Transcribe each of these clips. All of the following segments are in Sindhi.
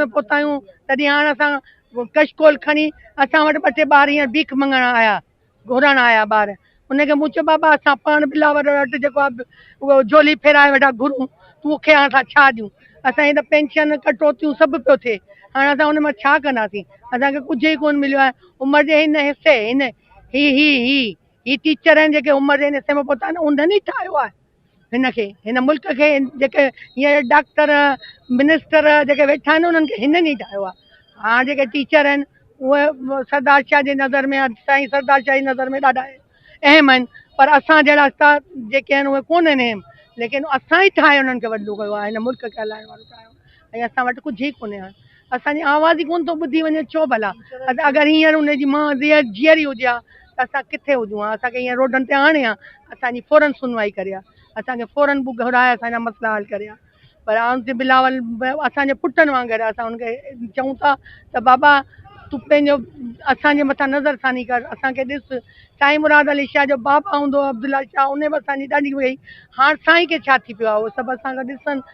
۾ پهتا آهيون تڏهن هاڻ اسان ڪش ڪول کڻي اسان وٽ ٻه ٽي ٻار هينئر بيک منگڻ آيا گهرڻ آيا ٻار ان کي مون چيو بابا اسان پاڻ بلاور وٽ جيڪو آهي اهو جولي ڦيرائي ويٺا گهرون تون کي هاڻ اسان ڇا ڏيون اسان هي ته پينشن ڪٽوتيون سڀ پيو ٿئي هاڻ اسان ان مان ڇا ڪنداسين اسانکي ڪجهه ئي ڪون مليو آهي عمر جي هن حصي هن هي هي هي هي ٽيچر آهن جيڪي عمر جي هن حصي ۾ پهتا آهن انهن ئي ٺاهيو آهي هن کي هن ملڪ کي جيڪي هينئر ڊاڪٽر منسٽر جيڪي ويٺا آهن انهن کي هنن ئي ٺاهيو آهي هاڻ جيڪي ٽيچر آهن اهي سردار شاهه جي نظر ۾ سائين سردار شاهه جي نظر ۾ ڏاڍا اهم آهن پر اسان جهڙا استاد جيڪي آهن اهي ڪونهن اهم ليڪن اسان ئي ٺاهي انهن کي وڏو ڪيو آهي هن ملڪ کي هلائڻ وارو ٺاهيو ۽ اسان وٽ ڪجهه ئي ڪونهي هاڻ اسان جي آواز ئي ڪونه ٿو ٻڌي وڃي ڇو ڀلا اگر هينئر ان جي مان جيئري هجي ها ته اسان ڪٿي هجون ها اسان کي هينئر روڊن تي آڻي ها اسان جي فورن سنوائي ڪري ها اسان کي فورن بو گهرائي اسان جا مسئلا حل ڪري ها پر آن تي بلاول اسان جي پٽن وانگر آهي اسان ان کي چئون ٿا ته بابا تون پنهنجو اسان جي مٿان نظر ثاني ڪر اسان کي ڏس سائين مراد علي شاهه جو بابا هوندو عبدالله شاهه ان به اسان جي ڏاڍي وئي هاڻ سائين کي ڇا ٿي پيو آهي هو سڀ اسان کي ڏسن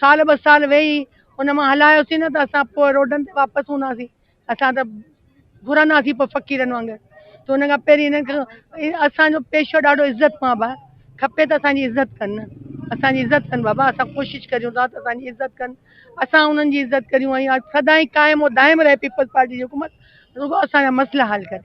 سال ٻه سال ويهي ان مان هلايوسين نه ته اسان پوء روڊن تي واپس هونداسين اسان ته گهرنداسين پوء فقيرن وانگر ته ان کان پهرين هنن کي اسانجو پيشو ڏاڍو عزت ماب آهي کپي ته اسانجي عزت ڪن نه اسانجي عزت ڪن بابا اسان ڪوشش ڪريون ٿا ته اسانجي عزت ڪن اسان انهن جي عزت ڪريون ۽ سدائين قائم و دائم رهي پيپلز پارٽي جي حڪومت رڳو اسانجا مسئلا حل ڪري